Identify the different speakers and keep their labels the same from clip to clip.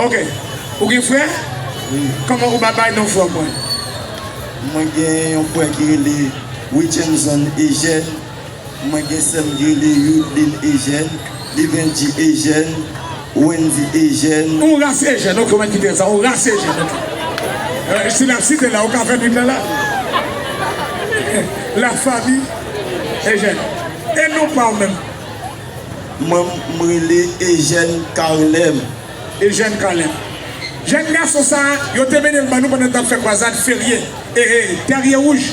Speaker 1: Ok ou gen frè? Wi. Kòman
Speaker 2: ou pa bay non
Speaker 1: frè w mwen? Mwen
Speaker 2: gen yon frè ki rele Witchenson Eugène, mwen gen sè m ki rele Youdeline Eugène, Livendy Eugène, Wendy Eugène. Yon ras Eugène ok
Speaker 1: mwen kite l sa yon ras Eugène ok. Si l ap site la ou ka fè nwit lan la La famille Eugène e non pa w menm?
Speaker 2: Mwen m rele Ejèn Kalèm. Ejèn
Speaker 1: Kalèm. Jèn gason sa a, yo te mennen l ban nou pandan n t ap fè kwazad Ferye, ee, Tèrye Wouj.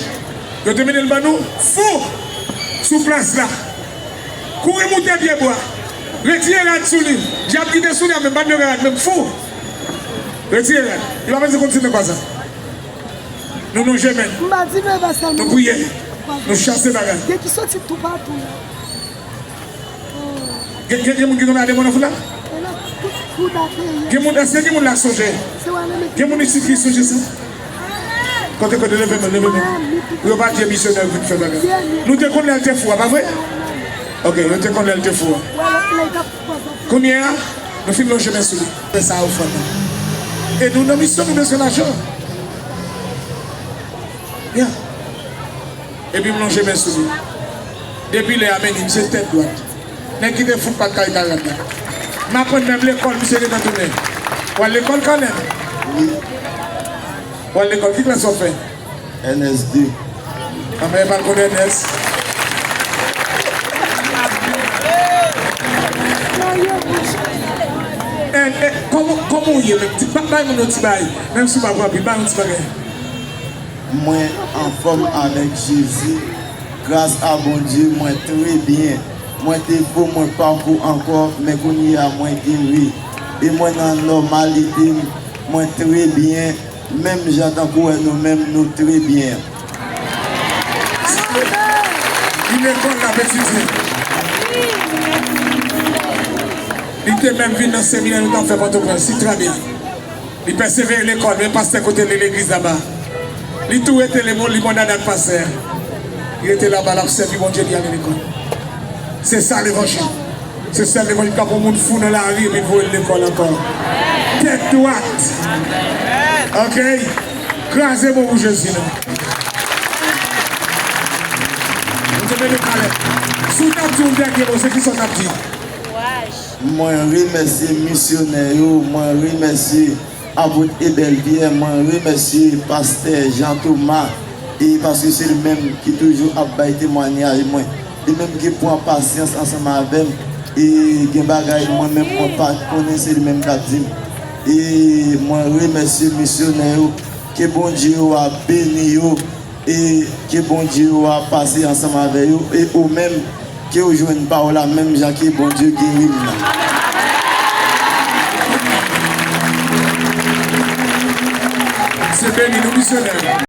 Speaker 1: Yo te mennen l ban nou, fou! Sou plas la. Kouri moute pye bwa. Retire rad sou li. Dyab ki te sou li a menm pa t vle wè rad menm, fou! Retire rad. Li pa vle kontinye kwazad. Nou lonje men n. Nou priye. Nou chase bagay. Gen gen gen moun ki renmen Ademo nan foul la? Gen moun èske gen moun la k sonje? Gen moun isit ki sonje sa? Kote kote leve men leve men Pou yo pa di e misyonè vin fè bagay Nou te konn lèl te fou a pa vre? Ok nou te konn lèl te fou a Kounye a nou fin lonje men sou li Fè sa ou fè nan E nou nan misyon nou bezwen lajan Yeah Epi m lonje men sou li. Depi lè a men li misye tèt dwat. Nèg ki te fout pat kay Karad la. M aprann menm lekòl misye gentan tounen. W al lekòl Kanèl? Wi. W al lekòl? Ki klas w ap fè? Ernest 2. Anmè e pa l konn Ernest. Ernest, kòman w ye menm? Bay moun yon ti bagay. Menm si w pa pran anpil, bay yon ti bagay.
Speaker 2: Mwen anfom avek jezi gras a bondye mwen tre byen mwen te fou mwen pako anko men kounye a mwen geri e mwen nan nomalite m mwen tre byen menm jan tankou e nou menm nou tre byen.
Speaker 1: Ki lekòl lap etidye? Li te menm vin nan seminè nou tap fè pòtoprens, si trè byen. Li pèsevere lekòl men pastè kote li legliz laba. Li tou rete lemon limonad ak pastè. Li rete laba lap sèvi Bondye li ale lekòl. Se sa levanjil. Se sèl levanjil kap pran moun fou nan lari epi voye l lekòl ankò. Tèt dwat. Ok. Kraze bon pou Jezi non. Bondye beni w Caleb. Si w tap di yon dènye mo se kisa w tap di? Kouraj.
Speaker 2: Mwen remèsye misyonè yo, mwen remèsye Apot Ebèl Pyè, mwen remèsye Pastè Jan Toma e paske se li menm ki toujou ap bay temwanyaj mwen. Li menm ki pran pasyans ansanm avè m e gen bagay mwen menm mwen pa t konnen se li menm k ap di m. E mwen remèsye misyonè yo, ke Bondye yo a beni yo. E ke Bondye ou a pase ansanm avè yo e ou menm ke ou jwenn pa ou la menm jan ke Bondye geri m nan.
Speaker 1: Se beni nou misyonè.